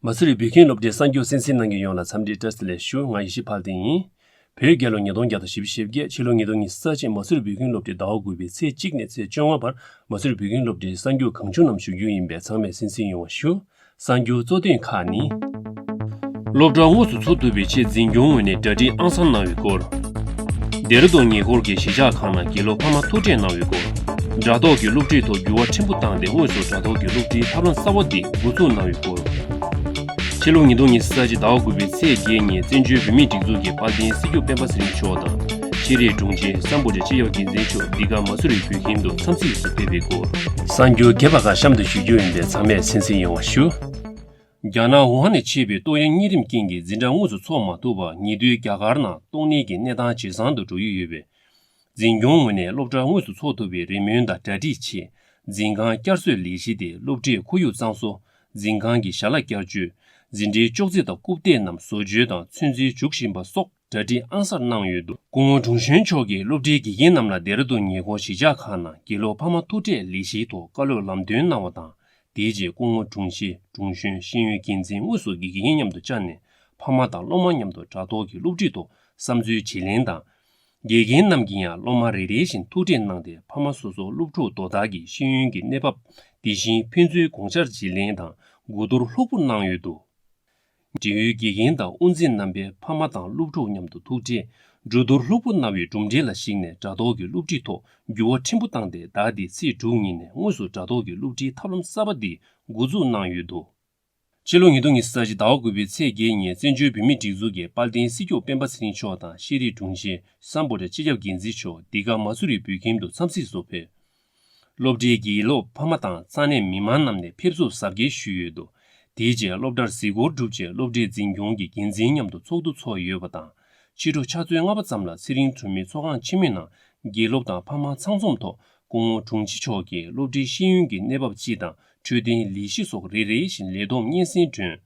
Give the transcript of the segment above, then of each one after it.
མ་སུ་རི་བོད་ཁྱིམ་སློབ་གྲྭའི་གསར་འགྱུར་སེམས་གསེང་ནང་གི་ཡོངས་ལ་འཚམས་འདྲི་བཀྲ་ཟེ་ལེགས་ཞུ་ང་ཡེ་ཤེས་འཕགས་བསྟན་ཡིན། བོད་རྒྱལ་ལོ་ཉིས་སྟོང་བརྒྱ་དང་བཞི་བཅུ་ཞེ་བརྒྱད་ཕྱི་ལོ་ཉིས་སྟོང་གཉིས་སུ་རྩ་ཆེན་མ་སུ་རི་བོད་ཁྱིམ་སློབ་གྲྭའི་ཟླ་བ་དགུ་པའི་ཚེས་གཅིག་ནས་ཚེས་བཅོ་ལྔ་བར་མ་སུ་རི་བོད་ཁྱིམ་སློབ་གྲྭའི་གསར་འགྱུར་གང་བྱུང་རྣམས་ཞུ་རྒྱུ་ཡིན་པས་ཚང་མས་སེམས་གསེང་ཡོང་བ་ཞུ། གསར་འགྱུར་གཙོ་དོན་ཁག་ནི། སློབ་གྲྭ་དངོས་སུ་འཚོགས་ཐུབ་པའི་ཆེད་འཛིན་སྐྱོང་ངོས་ནས་གྲ་སྒྲིག་ཨང་གསང་གནང་བའི་སྐོར། ལྡེ་རུ་རྡོ་ཉེ་འཁོར་གྱི་གཞིས་ཆགས་ཁག་ནང་དགེ་སློབ་ཕ་མ་ཐུག་འཕྲད་གནང་བའི་སྐོར། དྲ་ཐོག་གི་སློབ་ཁྲིད་ཐོག་འགྱུར་བ་ཕྲན་བུ་བཏང་སྟེ་དངོས་སུ་དྲ་ཐོག་གི་སློབ་ཁྲིད་ཐབས་ལམ་གསར་བ་འདི་འགོ་འཛུགས་གནང་བའི་སྐོར། ཕྱི་ལོ་ཉིས་སྟོང་ཉེར་གསུམ་ཟླ་གཅིག་ཟླ་བ་དགུ་པའི་ཚེས་བརྒྱད་ཉིན་བཙན་བྱོལ་བོད་མིའི་སྒྲིག་འཛུགས་ཀྱི་དཔལ་ལྡན་སྲིད་སྐྱོང་སྤེན་པ་ཚེ་རིང་མཆོག་དང། ཤེས་རིག་དྲུང་ཆེ་བསམ་བོ་ལེ་ཅི་ཡོག་གིས་འཛིན་ཆོག་འདི་ག་མ་སུ་རིག་བོད་ཁྱིམ་དུ་འཚམས་གཟིགས་སུ་ཕེབས་པའི་སྐོར། གསར་འགྱུར་རྒྱས་པ་འགའ་གཤམ་དུ་ཞུ་རྒྱུ་ཡིན་པས་ཚང་མས་སེམས་གསལ་ཡོང་བ་ཞུ། རྒྱ་ནག་ཝུ་ཧན་ནས་མཆེད་པའི་ཏོག་དབྱིབས་གཉན་རིམས་རྐྱེན་གྱིས་འཛིན་གྲྭ་དངོས་སུ་འཚོགས་མ་ཐུབ་པར་ཉེ་དུས་རྒྱ་གར་ནང་ཏོག་ནད་ཀྱི་གནས་སྟངས་ཇེ་བཟང་དུ་འགྲོ་ཡི་ཡོད་པས། འཛིན་སྐྱོང་ངོས་ནས་སློབ་གྲྭ་དངོས་སུ་འཚོགས་ཐུབ་པའི་རེ་སྨོན་དང་གྲ་སྒྲིག་ཆེད་འཛིན་ཁང་བསྐྱར་གསོའི་ལས་གཞི་དེ་སློབ་ཁྲིད་ཁོར་ཡུག་གཙང་བཟོ་འཛིན་ཁང་གི་བྱ་གླག་བསྐྱར་བཅོས་འཛིན་གྲྭའི་ཅོག་ཙེ་དང་རྐུབ་སྟེགས་རྣམས་བཟོ་བཅོས་དང་ཚོད་འཛིན་འཇུག་བཞིན་པ་སོགས། གྲ་སྒྲིག་ཨང་གསར་གནང་ཡོད་འདུག་སྐུ་ངོ་ཀྲུང་ཞོན་མཆོག་གིས་སློབ་གྲྭའི་དགེ་རྒན་རྣམས་ལ་སྡེ་ར་ལྡུན་ཉེ་འཁོར་གཞིས་ཆགས་ཁག་ནང་དགེ་སློབ་ཕ་མ་ཐུག་འཕྲད་ལས་གཞིའི་ཐོག་བཀའ་སློབ་ལམ་སྟོན་གནང་བ་དང་དེའི་རྗེས་སྐུ་ངོ་ཀྲུང་ཞི་ཀྲུང་ཞོན་ཤེས་ཡོན་འགན་འཛིན་དངོས་སུ་དགེ་རྒན་མཉམ་དུ་བཅར་ནས་ཕ་མ་དང་སློབ་མ་མཉམ་དུ་དྲ་ཐོག་གི་སློབ་ཁྲིད་ཐོག་བསམ་ཚུལ་བརྗེ་ལེན་དང། དགེ་རྒན་རྣམས་ཀྱིས་ཡང་སློབ་མ་རེ་རེ་བཞིན་ཐུག་འཕྲད་གནང་སྟེ་ཕ་མ་སོ་སོ་སློབ་ཕྲུག་དོ་བདག་གི་ཤེས་ཡོན་གྱི་གནས་བབ་འདི་བཞིན་ཕན་ཚུན་དགོངས་འཆར་བརྗེ་ལེན་དང་གོ་བསྡུར་ལྷུག་པོ་གནང་ཡོད་འདུག་འབྲེལ་ཡོད་དགེ་རྒན་དང་དབུ་འཛིན་རྣམ་པའི་ཕ་མ་དང་སློབ་ཕྲུག་མཉམ་དུ་ཐུག་འཕྲད། འབྲུ་རྡོར་ལྷུག་པོ་གནང་བའི་གྲུབ་འབྲས་ལ་གཞིགས་ནས་དྲ་ཐོག་གི་སློབ་ཁྲིད་ཐོག་འགྱུར་བ་ཕྲན་བུ་བཏང་སྟེ་ཟླ་འདིའི་ཚེས་དྲུག་ཉིན་ནས་དངོས་སུ་དྲ་ཐོག་གི་སློབ་ཁྲིད་ཐབས་ལམ་གསར་པ་འདི་འགོ་འཛུགས་གནང་ཡོད་འདུག། ཕྱི་ལོ་ཉིས་སྟོང་ཉི་ས་གཅིག་ཟླ་བ་དགུ་པའི་ཚེས་བརྒྱད་ཉིན་བཙན་བྱོལ་བོད་མིའི་སྒྲིག་འཛུགས་ཀྱི་དཔལ་ལྡན་སྲིད་སྐྱོང་སྤེན་པ་ཚེ་རིང་མཆོག་དང་ཤེས་རིག་དྲུང་ཆེ་སམ་བོད་དྲ་སྤྱི་ཁྱབ་འགན་འཛིན་མཆོག་འདི་ག་མ་སུ་རི་བོད་ཁྱིམ་དུ་འཚམས་གཟིགས་སུ་ཕེབས། སློབ་གྲྭའི་དགེ་སློབ་ཕ་མ་དང་ས་གནས་མི་མང་རྣམས་ནས་ཕེབས་བསུ་གཟབ་རྒྱས་ཞུས་ཡོད་འདུག་དེའི་རྗེས་སློབ་གྲྭར་གཟིགས་སྐོར་གྲུབ་རྗེས་སློབ་གྲྭའི་འཛིན་སྐྱོང་གི་འགན་འཛིན་མཉམ་དུ་ཚོགས་འདུ་ཚོགས་ཡོད་པ་དང་ཕྱི་དྲོ་ཆ་ཚོད་ལྔ་པ་ཙམ་ལ་ཚེ་རིང་གྲོང་མི་ཚོགས་ཁང་ཆེན་མོའི་ནང་དགེ་སློབ་དང་ཕ་མ་ཚང་འཛོམས་ཐོག་སྐུ་ངོ་དྲུང་ཆེ་མཆོག་གིས་སློབ་གྲྭའི་ཤེས་ཡོན་གྱི་གནས་བབ་སྤྱི་དང་འཕྲོད་བསྟེན་ལས་གཞི་སོགས་རེ་རེ་བཞིན་ལས་བསྡོམས་སྙན་སེང་བསྒྲོན།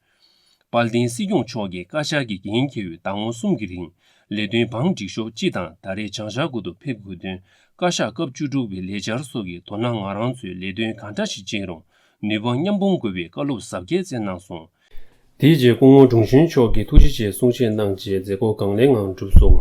དཔལ་ལྡན་སྲིད་སྐྱོང་མཆོག་གིས་བཀའ་ཤག་གིས་འགན་འཁྱེར་བའི་ཟླ་ངོ་གསུམ་གྱི་རིང་ལས་དོན་བང་བསྒྲིགས་ཤོག་སྤྱི་དང་ཟླ་རེའི་བྱང་ཤར་ཁུལ་དུ་ཕེབས་དགོས་དོན་བཀའ་ཤག་སྐབས་བཅུ་དྲུག་པའི་ལས་འཆར་སོགས་ཀྱི་དོ་ན་ང་རང་ཚོས་ལས་དོན་གང་འདྲ་ཞིག་བྱེད་རུང་ནུས་པ་མཉམ་སྤུངས་དགོས་པའི་བཀའ་སློབ་ཟབ་རྒྱས་བསྩལ་གནང་སོང། དེའི་རྗེས་སྐུ་ངོ་འབྲོང་ཆུན་མཆོག་གིས་ཐུགས་རྗེ་ཆེའི་གསུང་བཤད་གནང་རྗེས་མཛད་སྒོ་གང་ལེགས་ངང་གྲུབ་སོང།